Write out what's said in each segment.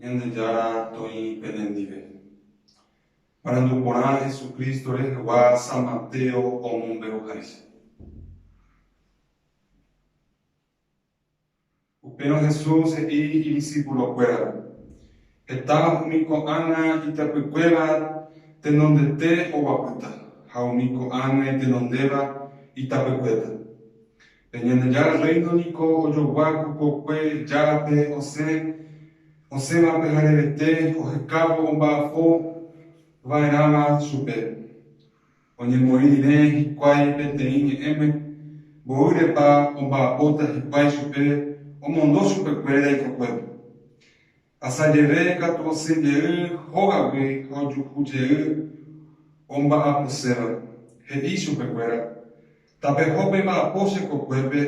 Ñandejára toĩ penendive. Marandu porã Jesucristo rehegua San Mateo omombe'uháicha. Upérõ Jesús he'i idisipulokuérape, Heta umi ko'ág̃a ityapykuéra tenondete oguapýta ha umi ko'ág̃a itenondéva itapykuéta. Pe Ñandejára Rréino niko ojogua ku kokue Járape osẽ osẽva pyharevete ohekávo omba'apo va'erãva chupe. Oñemoĩ rire hikuái peteĩ ñe'ẽme, mboýrepa omba'apóta hikuái chupe omondo chupekuéra ikokuépe. Asajeve katu osẽ jey hógagui ojuhu jey omba'aposéva, he'i chupekuéra, Tapeho pe mba'apo che kokuépe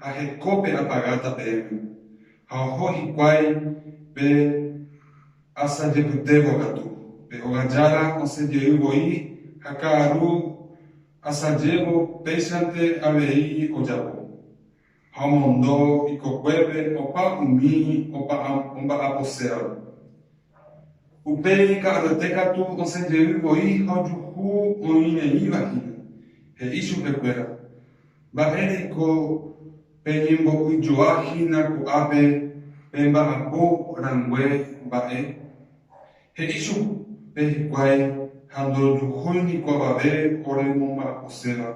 ha hekópe apagáta pe yvy. Ha oho hikuái pe asa jepytévo katu, pe óga jára osẽ jey voi ha ka'aru asajévo péichante avei ojapo. ha omondo ikokuépe opa umi omba'aposévape. Upéi ika'aruete katu osẽ jey voi ha ojuhu oĩreíva hína, he'i chupekuéra, Mba'e reiko peñembo'yjoa hína ko'ápe pemba'apo rangue mba'e? He'i chupe hikuái ha ndojuhúi niko avave ore momba'aposéva.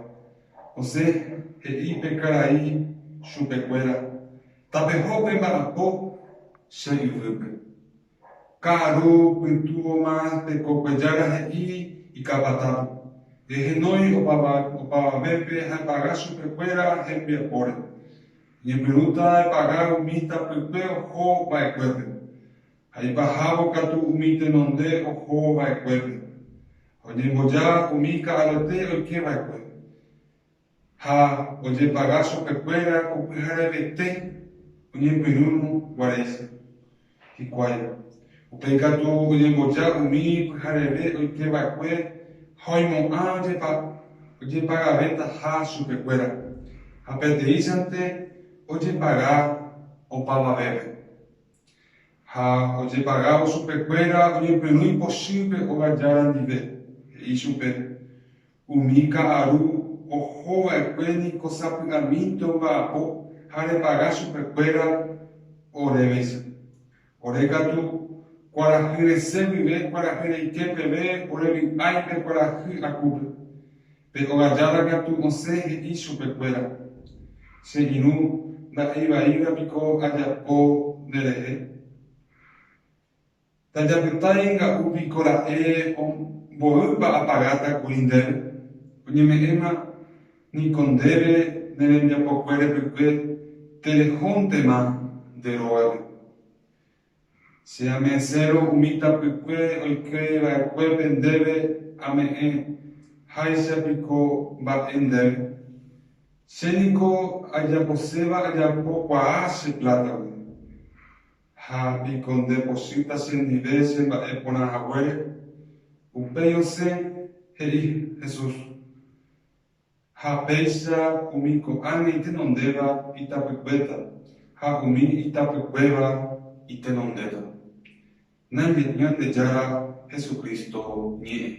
José he'i pe karai chupekuéra, Tapeho pe mba'apo che yvýpe. Ka'aró pytúvoma tekokue jára he'i ikapatápe, Ehenói opavavépe ha epaga chupekuéra hembiapóre. Eñepyrũta epaga umi tapykue oho va'ekuépe. ha ipahávo katu umi tenonde oho va'ekuépe, ha oñemboja umi ka'arete oike va'ekue, ha ojepaga chupekuéra ko pyharevete oñepyrũrõ guaréicha. Hikuái, upéi katu oñemboja umi pyhareve oike va'ekue ha oimo'ã ojepagavetaha chupekuéra, ha peteĩchante ojepaga opavavépe. Ha ojepagávo chupekuéra oñepyrũ ipochýpe óga jára ndive, he'i chupe, Umi ka'aru oho va'ekue niko sapy'amínte omba'apo ha repaga chupekuéra orévaicha. Ore katu, kuarahy resẽ guive kuarahy reike peve orevy'ái pe kuarahy akúpe. Pe ogajára katu osẽ he'i chupekuéra, Che irũ nda'eivaíva piko ajapo nderehe? Tajapytái nga'u piko ra'e mboýpa apagáta kuri ndéve? Oñeme'ẽma niko ndéve ne rembiapokue repykue terejóntema nde rógape. Che ame'ẽsérõ umi tapykue oikéi va'ekuépe ndéve ame'ẽ, háicha piko mba'e ndéve? Che niko ajaposéva ajapo kuaa che plátagui. Ha piko nde pochýta chendive che mba'e porã haguére? Upéi osẽ, he'i Jesús, Ha péicha umi ko'ág̃a itenondéva itapykuéta, ha umi itapykuéva itenondéta. Naime'ỹ Ñandejára Jesucristo ñe'ẽ.